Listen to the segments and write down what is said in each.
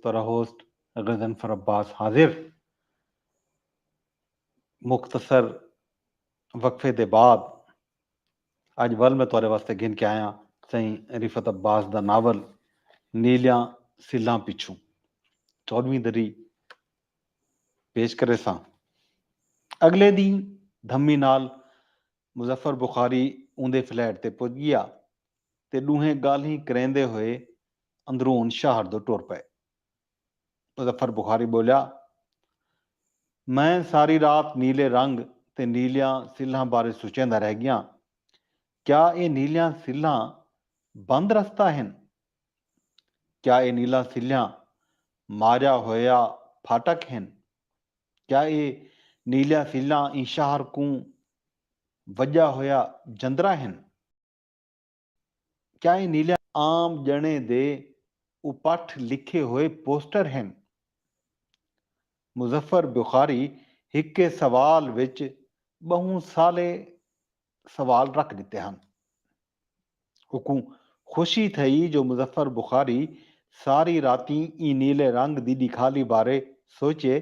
تراہوسٹ غضنفر عباس حاضر مختصر وقفے دے بعد اڄ ول میں تہاݙے واسطے گھن کے آیاں سئیں رفعت عباس دا ناول نیلیاں سلھاں پچھوں چوݙھویں دری پیش کریساں اڳلے ݙینہہ دھمی نال مظفر بخاری اوندے فلیٹ تے پڄ ڳیا تے ݙوہیں ڳالھیں کریندے ہوئے اندرون شہر دو ٹر پئے۔ مظفر بخاری ٻولیا، میں ساری رات نیلے رنگ تے نیلیاں سلھاں بارے سچیندا رہ ڳیاں۔ کیا اے نیلیاں سلھاں بند رستہ ہن؟ کیا اے نیلاں سلھیاں ماریا ہویا پھاٹک ہن؟ کیا اے نیلیاں سلھاں ایں شہر کوں وڄا ہویا جندرا ہن؟ چائیں نیلیاں عام ڄݨیں دے اپٹھ لکھے ہوئے پوسٹر ہن۔ مظفر بخاری ہکے سوال وچ ٻہوں سالے سوال رکھ ݙتے ہن۔ اوکوں خوشی تھئی جو مظفر بخاری ساری راتیں ایں نیلے رنگ دی ݙکھالی بارے سوچے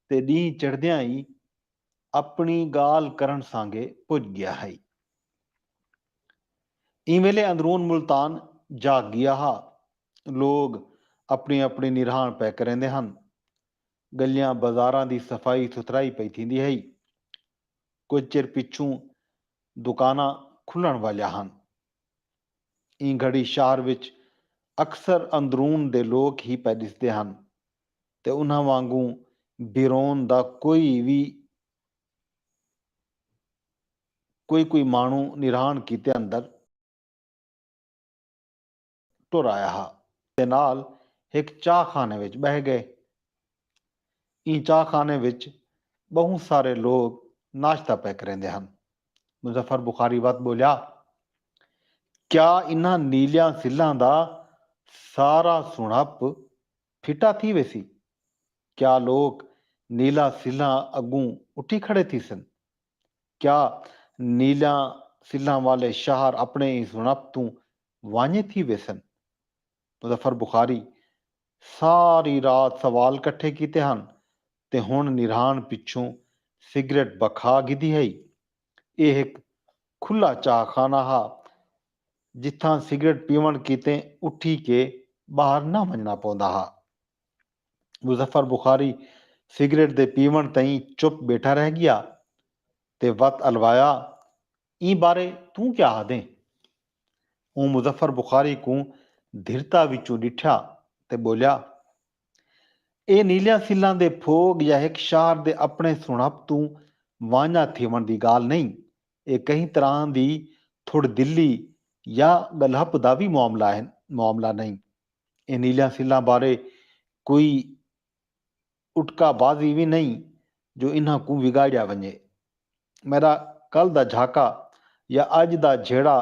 تے ݙینہہ چڑھدیاں ای اپݨی ڳالھ کرݨ سانگے پڄ ڳیا ہئی۔ ایں ویلے اندرون ملتان جاگ گیا ہا۔ لوگ اپݨی اپݨی نرہاݨ پئے کریندے ہن۔ ڳلیاں بازاراں دی صفائی ستھرائی پئی تھیندی ہئی۔ کجھ چر پچھوں دکاناں کھلݨ والیاں ہن۔ ایں گھڑی شہر وچ اکثر اندرون دے لوک ہی پئے ݙسدے ہن تے انہاں وانگوں بیرون دا کوئی وی کوئی کوئی ماݨو نرہاݨ کیتے اندر ٹر آیا ہا تے نال ہک چاہ خانے وچ ٻہہ ڳئے۔ ایں چاہ خانے وچ ٻہوں سارے لوک ناشتہ پئے کریندے ہن۔ مظفر بخاری وت ٻولیا، کیا انہاں نیلیاں سلھاں دا سارا سݨہپ پھٹا تھی ویسی؟ کیا لوک نیلاں سلھاں اڳوں اٹھی کھڑے تھیسن؟ کیا نیلاں سلھاں والے شہر اپݨے ایں سݨپ توں وانڄے تھی ویسن؟ مظفر بخاری ساری رات سوال کٹھے کیتے ہن تے ہݨ نرہاݨ پچھوں سگریٹ بکھا گھدی ہئی۔ ایہ ہک کھلا چاہ خانہ ہا جتھاں سگریٹ پیوݨ کیتے اٹھی کے ٻاہر نہ ونڄݨا پوندا ہا۔ مظفر بخاری سگریٹ دے پیوݨ تئیں چپ ٻیٹھا رہ ڳیا تے وت الوایا ایں بارے توں کیا آہدیں؟ اوں مظفر بخاری کوں دھرتا وچوں ݙٹھیا تے ٻولیا اے نیلیاں سلھاں دے پھوڳ یا ہک شاہر دے اپݨے سݨہپ توں وانڄا تھیوݨ دی ڳالھ نئیں اے کہیں طرح دی تھوڑ دلی یا ڳلہپ دا وی معاملہ نئیں۔ ایں نیلیاں سلھاں بارے کوئی اٹکا بازی وی نئیں جو انہاں کوں وگاڑیا ونجے۔ میݙا کل دا جھاکا یا اڄ دا جھیڑا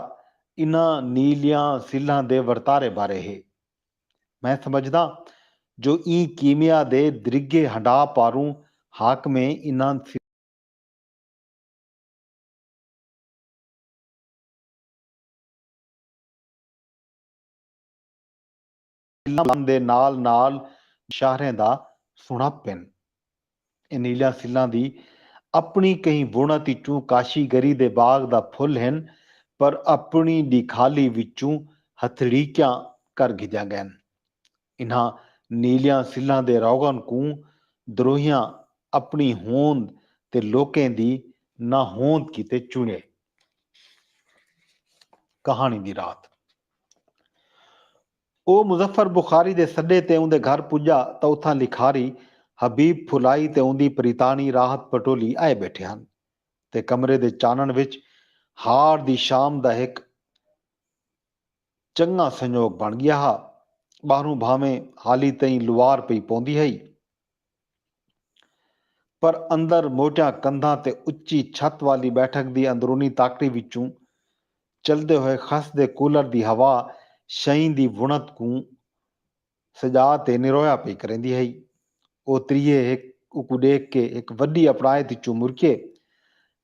انہاں نیلیاں سلھاں دے ورتارے بارے ہے۔ میں سمجھداں جو ایں کیمیا دے درگھے ہنڈھا پاروں حاکمیں انہاں۔ سلاں دے نال نال شاہریں دا سنڑپ ہن۔ انیلیاں سلاں دی اپنڑی کہیں وونت اچوں کاشی گری دے باغ دا پھل ہن پر اپنڑی ڈیکھالی وچوں ہتھڑیکیاں کر گھدیاں گئن۔ انہاں نیلیاں سلاں دے روغن کوں دروہیاں اپنڑی ہوند تے لوکیں دی ناہوند کیتے چنڑے۔ کہاݨی دی رات او مظفر بخاری دے سݙے تے اوندے گھر پڄا تاں اتھاں لکھاری حبیب پھلائی تے اوندی پریتاݨی راحت پٹولی آئے ٻیٹھے ہن تے کمرے دے چانݨ وچ ہاڑ دی شام دا ہک چنڳاں سنڄوڳ بݨ ڳیا ہا ٻاہروں بھانویں حالی تئیں لوار پئی پوندی ہئی پر اندر موٹیاں کندھاں تے اچی چھت والی بیٹھک دی اندرونی تاکڑی وچوں چلدے ہوئے خس دے کولر دی ہوا شئیں دی وݨت کوں سڄا تے نرویا پئی کریندی ہئی۔ او تریہے ہک اوکوں ݙیکھ کے ہک وݙی اپڑائت اچوں مرکیے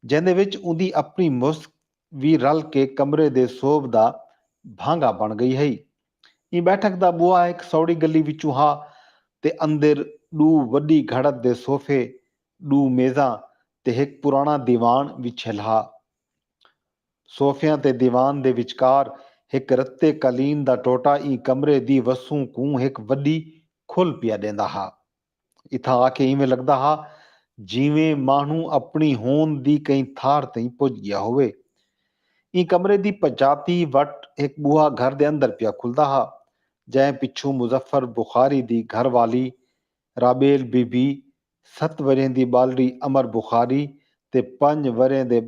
جیندے وچ اوندی اپݨی مسک وی رل کے کمرے دے سوبھ دا بھانگا بݨ ڳئی ہئی۔ ایں بیٹھک دا ٻوہا ہک سوڑھی گلی وچوں ہا تے اندر ݙو وݙی گھڑت دے صوفے، ݙو میزاں تے ہک پراݨا دیوان وچھیل ہا۔ صوفیاں تے دیوان دے وچکار ہک رتے قالین دا ٹوٹا ایں کمرے دی وسوں کوں ہک وݙی کھل پیا ݙیندا ہا۔ اتھاں آ کے اینویں لگدا ہا جینویں ماہنو اپنڑی ہوند دی کہیں تھار تئیں پج گیا ہووے۔ ایں کمرے دی پجاتی وٹ ہک بوہا گھر دے اندر پیا کھلدا ہا جئیں پچھوں مظفر بخاری دی گھر والی رابیل بی بی، ست ورھیں دی ٻالڑی امر بخاری تے پنج ورھیں دے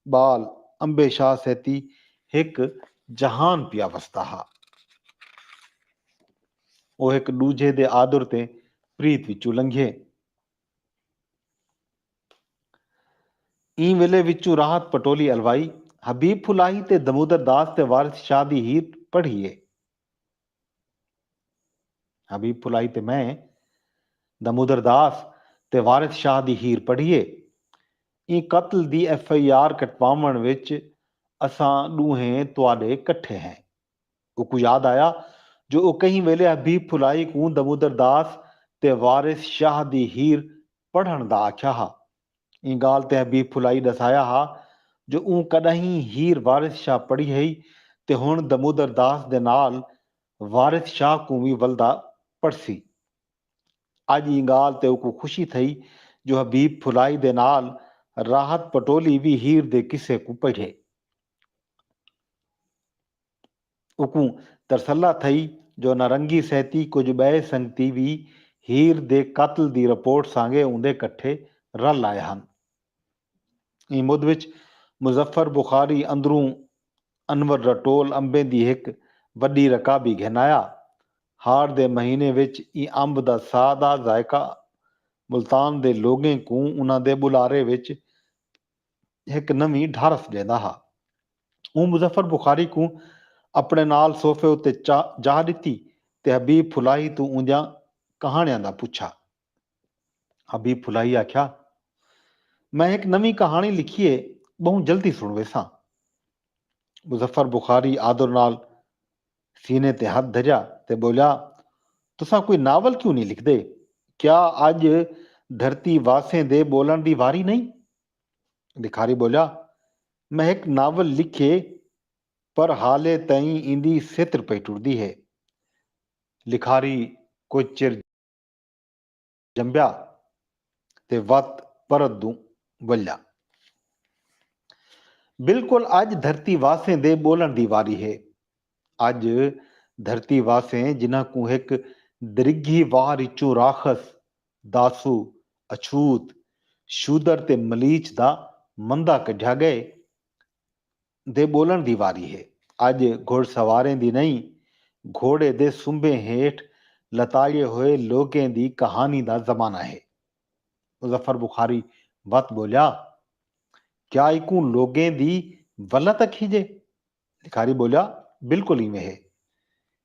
ٻال امبے شاہ سیتی ہک جہان پیا وسدا ہا۔ او ہک ݙوجھے دے آدر تے پریت وچوں لنگھیے۔ ایں ویلے وچوں راحت پٹولی الوائی، حبیب پھلاہی تے دمودر داس تے وارث شاہ دی ہیر پڑھیے۔ حبیب پھلائی تے میں دامودر داس تے وارث شاہ دی ہیر پڑھیے۔ ایں قتل دی ایف آئی آر کٹواوݨ وچ اساں ݙوہیں تہاݙے کٹھے ہیں۔ اوکوں یاد آیا جو او کہیں ویلے حبیب پھلائی کوں دامودر داس تے وارث شاہ دی ہیر پڑھݨ دا آکھیا ہا۔ ایں ڳالھ تے حبیب پھلائی ݙسایا ہا جو اوں کݙاہیں ہیر وارث شاہ پڑھی ہئی تے ہݨ دمودر داس دے نال وارث شاہ کوں وی ولدا پڑھسی۔ اڄ ایں ڳالھ تے اوکوں خوشی تھئی جو حبیب پھلائی دے نال راحت پٹولی وی ہیر دے قصے کوں پڑھے۔ اوکوں ترسلا تھئی جو نارنگی سہتی کجھ ٻئے سنگتی وی ہیر دے قتل دی رپورٹ سانگے اوندے کٹھے رل آئے ہن۔ ایں مدھ وچ مظفر بخاری اندروں انور دا ٹول امبیں دی ہک وݙی رکابی گھن آیا۔ ہاڑ دے مہینے وچ ایں امب دا سا دا ذائقہ ملتان دے لوگیں کوں انہاں دے ٻلارے وچ ہک نویں ڈھارس ڈیندا ہا۔ اوں مظفر بخاری کوں اپݨے نال صوفے اتے جاہ ݙتی تے حبیب پھلاہی توں اوندیاں کہاݨیاں دا پچھا۔ حبیب پھلاہی آکھیا، میں ہک نویں کہاݨی لکھی ہے، ٻہوں جلدی سݨ ویساں۔ مظفر بخاری آدر نال سینے تے ہتھ دھریا تے ٻولیا تساں کوئی ناول کیوں نی لکھدے؟ کیا اڄ دھرتی واسیں دے ٻولݨ دی واری نئیں؟ بھکاری ٻولیا میں ہک ناول لکھیے پر حالے تئیں ایندی ستر پئی ٹردی ہے۔ لکھاری کجھ چر۔ جمبیا تے وت پرت دوں ولیا۔ بالکل اج دھرتی واسیں دے بولن دی واری ہے۔ اج دھرتی واسیں جنہاں کوں ہک درگھی وار اچوں راخس، داسو، اچھوت، شودر تے ملیچھ دا مندہ کڈھیا گئے، دے ٻولݨ دی واری ہے۔ اڄ گھوڑ سواریں دی نئیں، گھوڑے دے سنبھیں ہیٹھ لتاڑیے ہوئے لوکیں دی کہانی دا زمانہ ہے۔ مظفر بخاری وت ٻولیا، کیا ایکوں لوکیں دی ولت اکھیجے؟ لکھاری ٻولیا، بالکل اینویں ہے۔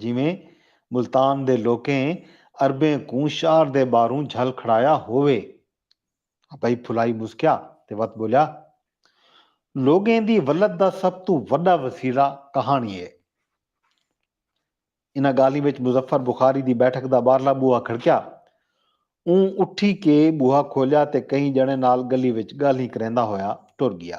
جیویں ملتان دے لوکیں عربیں کوں شہر دے ٻاہروں جھل کھڑایا ہووے۔ ابئی پھلائی مسکیا تے وت ٻولیا، لوگیں دی ولت دا سب توں وݙا وسیلہ کہاݨی ہے۔ انہاں ڳالھیں وچ مظفر بخاری دی بیٹھک دا ٻاہرلا ٻوہا کھڑکیا۔ اوں اٹھی کے ٻوہا کھولیا تے کہیں ڄݨے نال ڳلی وچ ڳالھیں کریندا ہویا ٹر ڳیا۔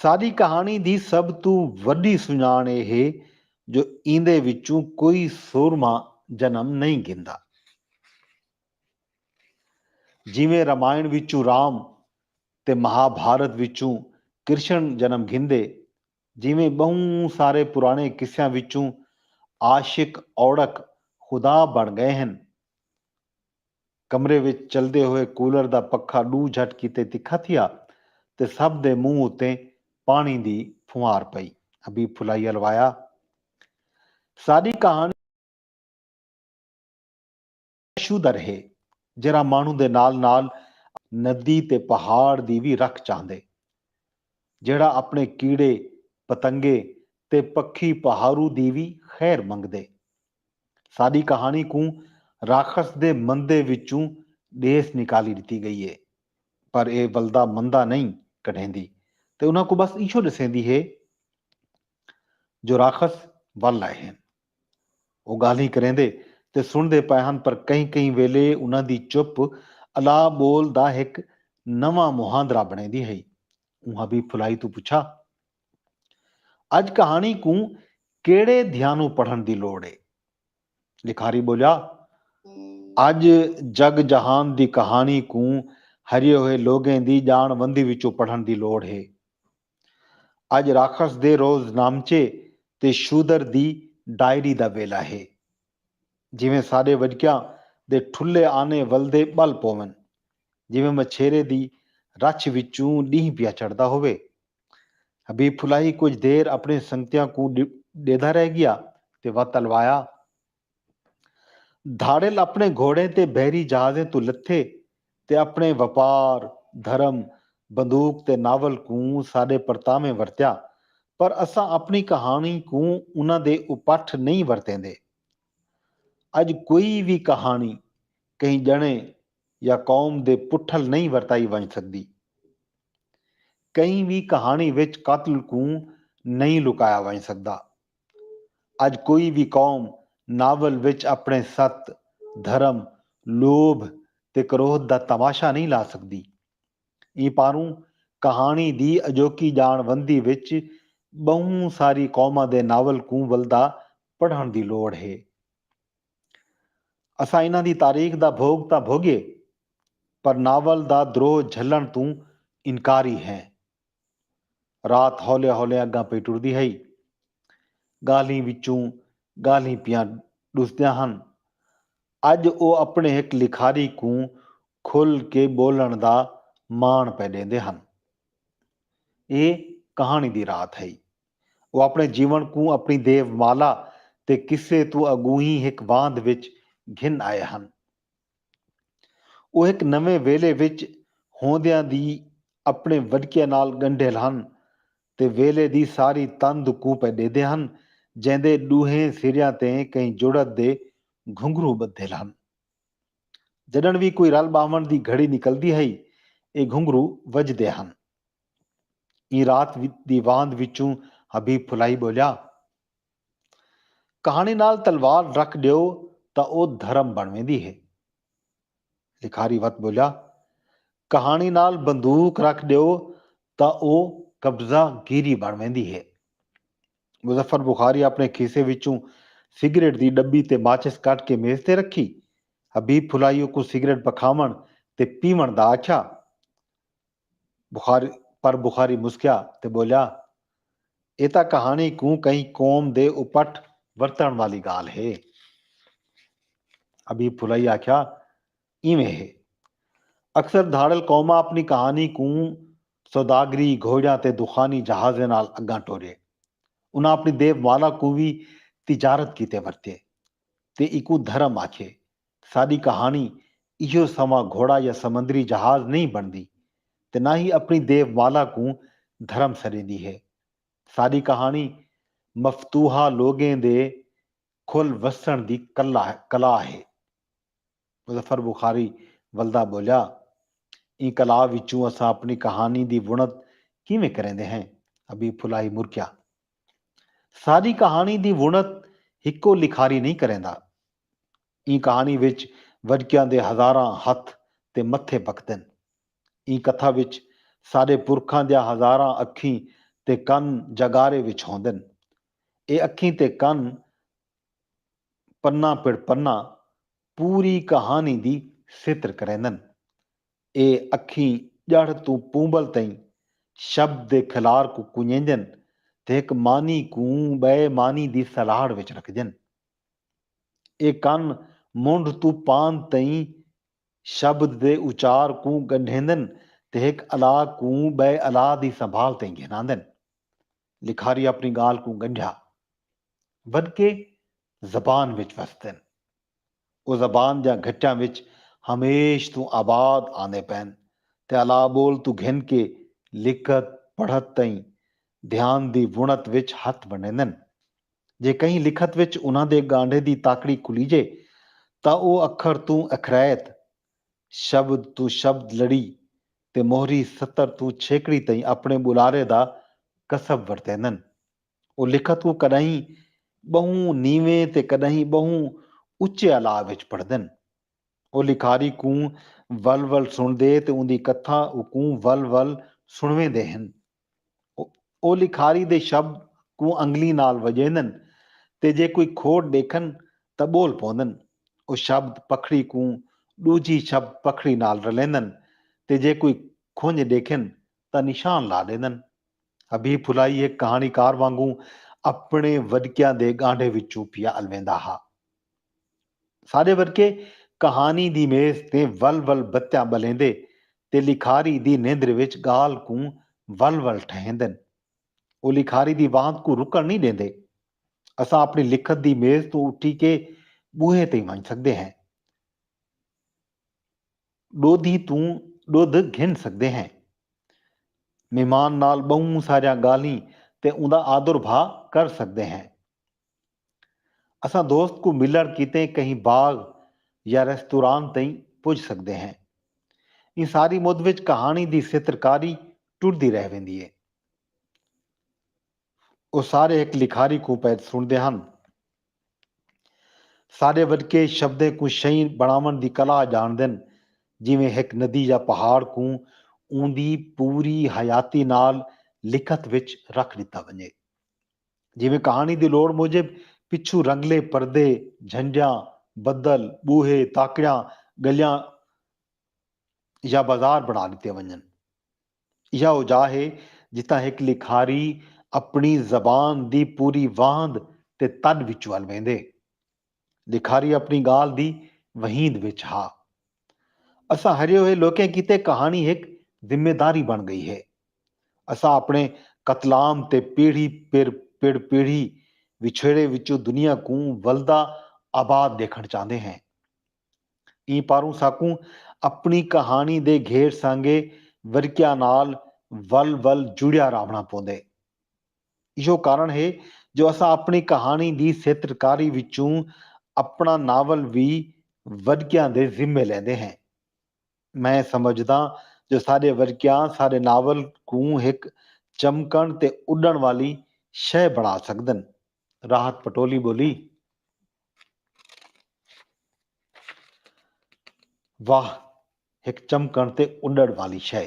ساݙی کہاݨی دی سب توں وݙی سنڄاݨ اے ہے جو ایندے وچوں کوئی سورمہ جنم نئیں گھندا۔ جیویں رامائݨ وچوں رام تے مہا بھارت وچوں کرشݨ جنم گھندے، جیویں ٻہوں سارے پراݨے قصیاں وچوں عاشق اوڑک خدا بݨ ڳئے ہن، کمرے وچ چلدے ہوئے کولر دا پکھا ݙو جھٹ کیتے تکھا تھیا تے سبھ دے منہ اتے پاݨی دی پھنوار پئی۔ حبیب پھلائی الوایا۔ ساݙی کہاݨی شودر ہے جیرھا ماݨوں دے نال نال ندی تے پہاڑ دی وی رکھ چاہندے۔ جیڑھا اپݨے کیڑے، پتنگے تے پکھی پہارو دی وی خیر منگدے۔ ساݙی کہاݨی کوں راکھس دے مندے وچوں ݙیس نکالی ݙتی ڳئی ہے پر ایہ ولدا مندا نئیں کڈھیندی تے انہاں کوں بس ایہو ݙسیندی ہے جو راکھس ول آئے ہن۔ او ڳالھیں کریندے تے سݨدے پئے ہن پر کہیں کہیں ویلے انہاں دی چپ الا ٻول دا ہک نواں مہاندرا بݨیندی ہئی۔ اونہاں بی پھلائی توں پچھا۔ اڄ کہاݨی کوں کیڑھے دھیانوں پڑھݨ دی لوڑ اے؟ لکھاری ٻولیا، اڄ جڳ جہان دی کہاݨی کوں ہریے ہوئے لوگیں دی ڄاݨ وندی وچوں پڑھݨ دی لوڑ اے۔ اڄ راکھس دے روز نامچے تے شودر دی ڈائری دا ویلا اے۔ جیویں ساݙے وݙکیاں دے ٹھلھے آنے ولدے ٻل پوون۔ جیویں مچھیرے دی رچھ وچوں ݙینہہ پیا چڑھدا ہووے۔ حبیب پھلائی کجھ دیر اپݨے سنگتیاں کوں ݙیہدا رہ ڳیا تے وت الوایا۔ دھاڑل اپݨے گھوڑیں تے بحری جہازیں توں لتھے تے اپݨے وپار، دھرم، بندوق تے ناول کوں ساݙے پرتاویں ورتیا پر اساں اپݨی کہاݨی کوں انہاں دے اپٹھ نئیں ورتیندے۔ اڄ کوئی وی کہاݨی کہیں ڄݨے یا قوم دے پٹھل نئیں ورتائی ونڄ سڳدی۔ کہیں وی کہاݨی وچ قتل کوں نئیں لکایا ونڄ سڳدا۔ اڄ کوئی وی قوم ناول وچ اپݨے ست، دھرم، لوبھ تے کروھ دا تماشا نئیں لا سڳدی۔ ایں پاروں کہاݨی دی اڄوکی ڄاݨ وندی وچ ٻہوں ساری قوماں دے ناول کوں ولدا پڑھݨ دی لوڑھ ہے۔ اساں انہاں دی تاریخ دا بھوگ تاں بھوگیے پر ناول دا دروہ جھلݨ توں انکاری ہیں۔ رات ہولے ہولے اڳاں پئی ٹردی ہئی۔ ڳالھیں وچوں ڳالھیں پیاں ݙسدیاں ہن۔ اڄ او اپݨے ہک لکھاری کوں کھل کے ٻولݨ دا ماݨ پئے ݙیندے ہن۔ اے کہاݨی دی رات ہئی۔ او اپݨے جیوݨ کوں اپݨی دیو مالا تے قصے توں اڳوہیں ہک واندھ وچ گھن آئے ہن۔ او ہک نویں ویلھے وچ ہوندیاں دی اپݨے وݙکیاں نال ڳنڈھیل ہن تے ویلھے دی ساری تند کوں پئے ݙیہدے ہن جیندے ݙوہیں سریاں تے کہیں جڑت دے گھنگھرو ٻدھیل ہن۔ جݙݨ وی کوئی رل ٻاہوݨ دی گھڑی نکلدی ہئی اے گھنگھرو وڄدے ہن۔ ایں رات دی واند وچوں حبیب پھلائی ٻولیا۔ کہاݨی نال تلوار رکھ ݙیو تاں او دھرم بݨ ویندی ہے۔ لکھاری وت ٻولیا۔ کہاݨی نال بندوق رکھ ݙیو تاں او قبضہ گیری بݨ ویندی ہے۔ مظفر بخاری اپݨے کھیسے وچوں سگریٹ دی ݙٻی تے ماچس کڈھ کے میز تے رکھی۔ حبیب پھلائی اوکوں سگریٹ پکھاوݨ تے پیوݨ دا آکھیا۔ بخاری پر بخاری مسکیا تے ٻولیا اے تاں کہاݨی کوں کہیں قوم دے اپٹ ورتݨ والی ڳالھ ہے۔ حبیب پھلائی آکھیا ایویں ہے۔ اکثر دھاڑل قوماں اپݨی کہاݨی کوں سوداگری گھوڑیاں تے دخانی جہازیں نال اڳاں ٹورے۔ انہاں اپݨی دیو مالا کوں وی تجارت کیتے ورتے تے ایکوں دھرم آکھے۔ ساݙی کہاݨی ایہو سنواں گھوڑا یا سمندری جہاز نئیں بݨدی تے نہ ہی اپݨی دیو مالا کوں دھرم سݙیندی ہے۔ ساݙی کہاݨی مفتوحا لوگیں دے کھل وسݨ دی کلا ہے۔ مظفر بخاری ولدا ٻولیا، ایں کلا وچوں اساں اپݨی کہاݨی دی وݨت کیویں کریندے ہیں؟ حبیب پھلاہی مرکیا، ساݙی کہاݨی دی وݨت ہکو لکھاری نئیں کریندا، ایں کہاݨی وچ وڄکیاں دے ہزاراں ہتھ تے متھے بھکدن۔ ایں کتھا وچ ساݙے پرکھاں دیاں ہزاراں اکھیں تے کن جاڳارے وچ ہوندن۔ اے اکھیں تے کن پناں پڑ پناں پوری کہاݨی دی ستر کریندن۔ اے اکھیں ڄڑھ توں پونبل تئیں شبد دے کھلار کوں کنڄیندن تے ہک معنی کوں ٻئے معنی دی سلہاڑ وچ رکھدن۔ اے کن منڈھ توں پاند تئیں شبد دے اچار کوں ڳنڈھیندن تے ہک الا کوں ٻئے الا دی سنبھال تئیں گھناندن۔ لکھاری اپݨی ڳالھ کوں ڳنڈھیا ونکے زبان وچ وسدن۔ او زبان دیاں گھٹیاں وچ ہمیش توں آباد آندے پئن تے الا ٻول توں گھن کے لکھت پڑھت تئیں دھیان دی وݨت وچ ہتھ ونڈھیندن۔ جے کہیں لکھت وچ انہاں دے ڳانڈھے دی تاکڑی کھلیجے تاں او اکھر توں اکھرائت، شبد توں شبد لڑی تے موہری سطر توں چھیکڑی تئیں اپݨے ٻلارے دا کسب ورتیندن۔ او لکھت کوں کݙاہیں ٻہوں نیویں تے کݙاہیں ٻہوں اچے الاء وچ پڑھدن۔ او لکھاری کوں ول ول سݨدے تے اوندی کتھا اوکوں ول ول سݨویندے ہن۔ او لکھاری دے شبد کوں انگلیں نال وڄیندن تے جے کوئی کھوٹ ݙیکھن تاں ٻول پوندن۔ او شبد پکھڑی کوں ݙوجھی شبد پکھڑی نال رلیندن تے جے کوئی کھنڄ ݙیکھن تاں نشان لا ݙیندن۔ حبیب پھلائی ہک کہاݨیکار وانگوں اپݨے وݙکیاں دے ڳانڈھے وچوں پیا الویندا ہا۔ ساݙے ورکے کہاݨی دی میز تے ول ول بتیاں ٻلیندے تے لکھاری دی نیندر وچ ڳالھ کوں ول ول ٹھہیندن۔ او لکھاری دی واند کوں رکݨ نئیں ݙیندے۔ اساں اپݨی لکھت دی میز توں اٹھی کے ٻوہے تئیں ونڄ سڳدے ہیں۔ ݙودھی توں ݙدھ گھن سڳدے ہیں۔ مہمان نال ٻہوں ساریاں ڳالھیں تے اوندا آدر بھا کر سڳدے ہیں۔ اساں دوست کوں ملنڑ کیتے کہیں باغ یا ریستوران تئیں پج سگدے ہیں۔ ایں ساری مد وچ کہاݨی دی سترکاری ٹردی رہ ویندی اے۔ او سارے ہک لکھاری کوں پئے سݨدے ہن۔ سارے وݙکے شبدیں کوں شئیں بݨاوݨ دی کلا ڄاݨدن جیویں ہک ندی یا پہاڑ کوں اوندی پوری حیاتی نال لکھت وچ رکھ ݙتا ونڄے۔ جیویں کہاݨی دی لوڑ موجب پچھوں رنگلے پردے، جھنجھاں، بدل، ٻوہے، تاکڑیاں، ڳلیاں یا بازار بݨا ݙتے ونڄن۔ ایہا او جاہ ہے جتھاں ہک لکھاری اپݨی زبان دی پوری واہند تے تݙ وچ ول ویندے۔ لکھاری اپݨی ڳالھ دی وہیند وچ ہا۔ اساں ہرے ہوئے لوکیں کیتے کہاݨی ہک ذمہ داری بݨ ڳئی ہے۔ اساں اپݨے قتلام تے پیڑھی پیر پڑ پیڑھی وچھیڑے وچوں دنیا کوں ولدا آباد ݙیکھݨ چاہندے ہیں۔ ایں پاروں ساکوں اپݨی کہاݨی دے گھیر سانڳے ورقیاں نال ول ول جڑیا راہوݨا پوندے۔ ایہو کارن ہے جو اساں اپݨی کہاݨی دی سیترکاری وچوں اپݨا ناول وی ورکیاں دے ذمے لیندے ہیں۔ میں سمجھداں جو ساݙے ورکیاں ساݙے ناول کوں ہک چمکݨ تے اݙݨ والی شئے بݨا سڳدن۔ راحت پٹولی ٻولی۔ واہ! ہک چمکݨ تے اݙݨ والی شئے۔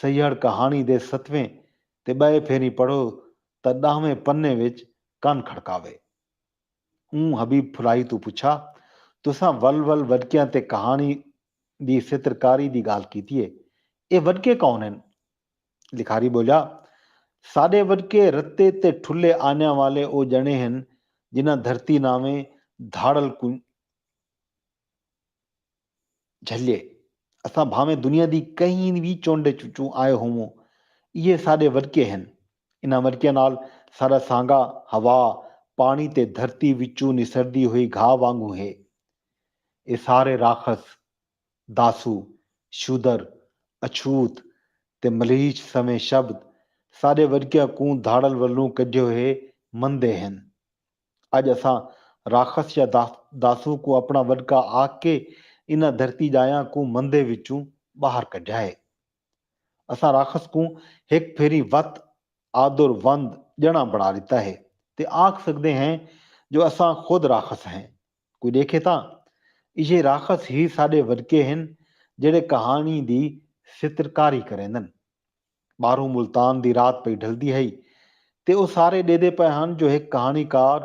سیہڑ کہاݨی دے ستویں تے ٻئے پھیریں پڑھو تاں ݙاہویں پنے وچ کن کھڑکاوے۔ اوں حبیب پھلائی توں پچھا، تساں ول ول وݙکیاں تے کہاݨی دی سترکاری دی ڳالھ کیتی ہے، ایہ وݙکے کون ہن؟ لکھاری ٻولیا، ساݙے وݙکے رتے تے ٹھلھے آنیاں والے او ڄݨے ہن جنہاں دھرتی ناویں دھاڑل کوں۔ جھلے۔ اساں بھانویں دنیا دی کہیں وی چنڈ وچوں آئے ہووں، ایہے ساݙے ورکے ہن۔ انہاں ورکیاں نال ساݙا سانگا ہوا، پاݨی تے دھرتی وچوں نسردی ہوئی گھاہ وانگوں ہے۔ ایہ سارے راکھس، داسو، شودر، اچھوت تے ملیچھ سویں شبد ساݙے ورکیاں کوں دھاڑل ولوں کڈھے ہوئے مندے ہن۔ اڄ اساں راخس یا داسوں کوں اپݨا وݙکا آکھ کے انہاں دھرتی ڄایاں کوں مندے وچوں ٻاہر کڈھیا ہے۔ اساں راخس کوں ہک پھیری وت آدر وند ڄݨاں بݨا ݙتا ہے تے آکھ سڳدے ہیں جو اساں خود راخس ہیں۔ کوئی ݙیکھے تاں ایجھے راخس ہی ساݙے وݙکے ہن جیڑھے کہاݨی دی سترکاری کریندن۔ ٻاہروں ملتان دی رات پئی ڈھلدی ہئی تے او سارے ݙیدھے پئے ہن جو ہک کہاݨی کار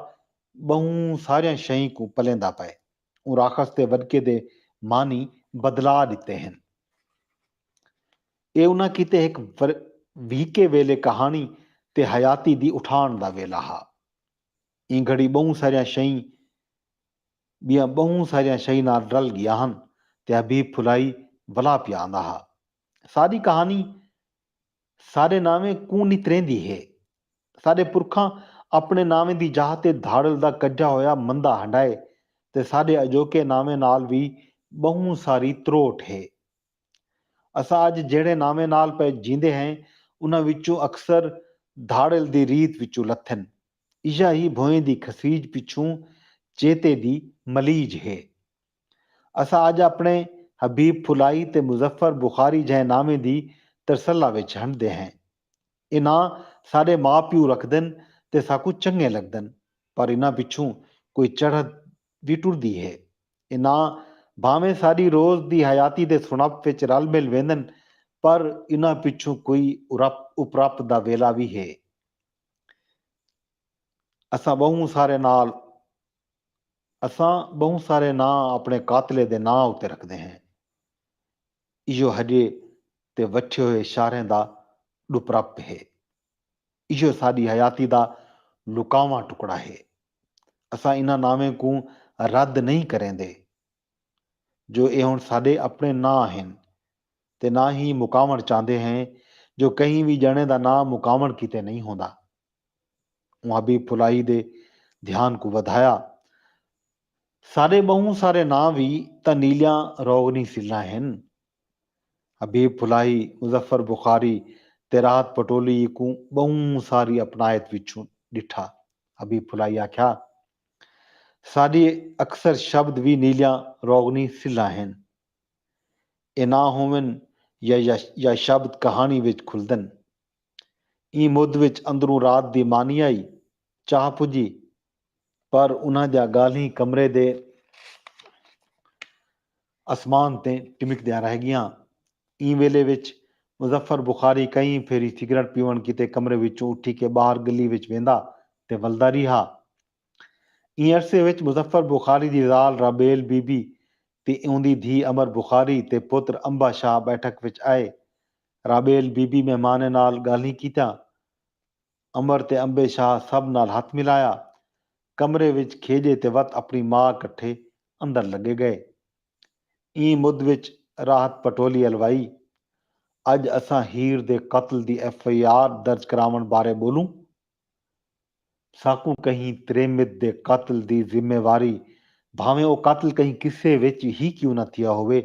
ٻہوں ساریاں شئیں کوں پلیندا پئے۔ اوں راکھس تے وݙکے دے معنی بدلا ݙتے ہن۔ اے انہاں کیتے ہک وہیکے ویلے کہاݨی تے حیاتی دی اٹھاݨ دا ویلا ہا۔ ایں گھڑی ٻہوں ساریاں شئیں ٻیاں ٻہوں ساریاں شئیں نال رل ڳیاں ہن تے حبیب پھلائی ولا پیا آندا ہا۔ ساݙی کہاݨی ساݙے ناویں کوں نتریندی ہے۔ ساݙے پرکھاں اپݨے ناویں دی جاہ تے دھاڑل دا کڄھا ہویا مندا ہنڈائے تے ساݙے اڄوکے ناویں نال وی ٻہوں ساری تروٹ ہے۔ اساں اڄ جہڑے ناویں نال پئے جیندے ہیں انہاں وچوں اکثر دھاڑل دی ریت وچوں لتھن۔ ایہا ہی بھوئیں دی کھسیج پچھوں چیتے دی ملیج ہے۔ اساں اج اپݨے حبیب پھلائی تے مظفر بخاری جہیں ناویں دی ترسلہ وچ ہنڈدے ہیں۔ اے ناں ساݙے ماء پیو رکھدن تے ساکوں چنڳے لڳدن پر انہاں پچھوں کوئی چڑھت وی ٹردی ہے۔ اے ناں بھانویں ساݙی روز دی حیاتی دے سݨپ وچ رل مل ویندن پر انہاں پچھوں کوئی ارپ اپرپ دا ویلھا وی ہے۔ اساں ٻہوں سارے نال۔ اساں بہوں سارے ناں اپنے قاتلے دے ناں اتے رکھدے ہیں۔ ایہو ہجے تے وٹھے ہوئے شاریں دا ڈپرپ ہے۔ ایہو ساڈی حیاتی دا لکاواں ٹکڑا ہے۔ اساں انہاں ناویں کوں رد نئیں کریندے جو اے ہن ساڈے اپنے ناں ہن تے نہ ہی مکاوݨ چاہندے ہیں جو کہیں وی ڄݨے دا ناں مکاوݨ کیتے نئیں ہوندا۔ اوں حبیب پھلائی دے دھیان کوں ودھایا۔ ساݙے ٻہوں سارے ناں وی تاں نیلیاں روغنی سلھاں ہن۔ حبیب پھلائی، مظفر بخاری تے راحت پٹولی کوں ٻہوں ساری اپنائت وچوں ݙٹھا۔ حبیب پھلائی آکھیا، ساݙے اکثر شبد وی نیلیاں روغنی سلھاں ہن۔ اے ناں ہوون یا یا شبد کہاݨی وچ کھلدن۔ ایں مدھ وچ اندروں رات دی مانی آئی چاہ پجی پر انہاں دیاں ڳالھیں کمرے دے اسمان تیں ٹمکدیاں رہ ڳیاں۔ ایں ویلے وچ مظفر بخاری کئی پھیری سگریٹ پیوݨ کیتے کمرے وچوں اٹھی کے ٻاہر ڳلی وچ ویندا تے ولدا ریہا۔ ایں عرصے وچ مظفر بخاری دی ذال رابیل بی بی تے اوندی دھی امر بخاری تے پتر امبا شاہ بیٹھک وچ آئے رابیل بی بی مہمانیں نال گالھیں کیتیاں۔ امر تے امبے شاہ سب نال ہتھ ملایا۔ کمرے وچ کھیڄے تے وت اپݨی ماء کٹھے اندر لڳے ڳئے۔ ایں مد وچ راحت پٹولی الوائی۔ اڄ اساں ہیر دے قتل دی ایف آئی آر درج کراوݨ بارے ٻولوں۔ ساکوں کہیں تریمت دے قتل دی ذمہ واری بھانویں او قتل کہیں قصے وچ ہی کیوں نہ تھیا ہووے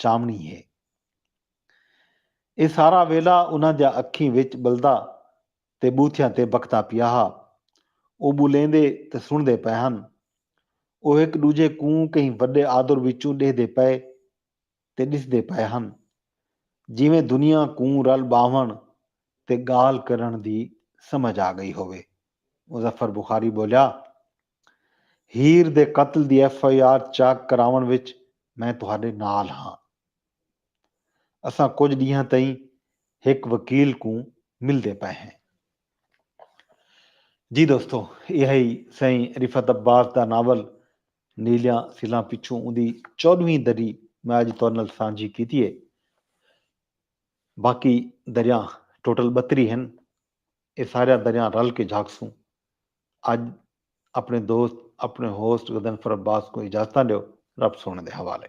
چاونڑی ہے۔ اے سارا ویلھا انہاں دیاں اکھیں وچ ٻلدا تے ٻوتھیاں تے بکھدا پیا ہا۔ او ٻولیندے تے سنڑدے پئے ہن۔ او ہک ݙوجھے کوں کہیں وݙے آدر وچوں ݙیہدے پئے تے ݙسدے پئے ہن جیویں دنیا کوں رل ٻاہوݨ تے ڳالھ کرݨ دی سمجھ آ ڳئی ہووے۔ مظفر بخاری ٻولیا ہیر دے قتل دی ایف آئی آر چاک کراوݨ وچ میں تہاݙے نال ہاں۔ اساں کجھ ݙینہاں تئیں ہک وکیل کوں ملدے پئے ہیں۔ جی دوستو ایہا ہئی سئیں رفعت عباس دا ناول نیلیاں سلاں پچھوں اوندی چوݙہویں دری میں اڄ تہاݙے نال سانجھی کیتی ہے۔ باقی دریاں ٹوٹل ٻتری ہن۔ اے ساریاں دریاں رل کے جھاکسوں۔ اڄ اپݨے دوست اپݨے ہوسٹ غضنفر عباس کوں اجازتاں ݙیو۔ رب سوہݨے دے حوالے۔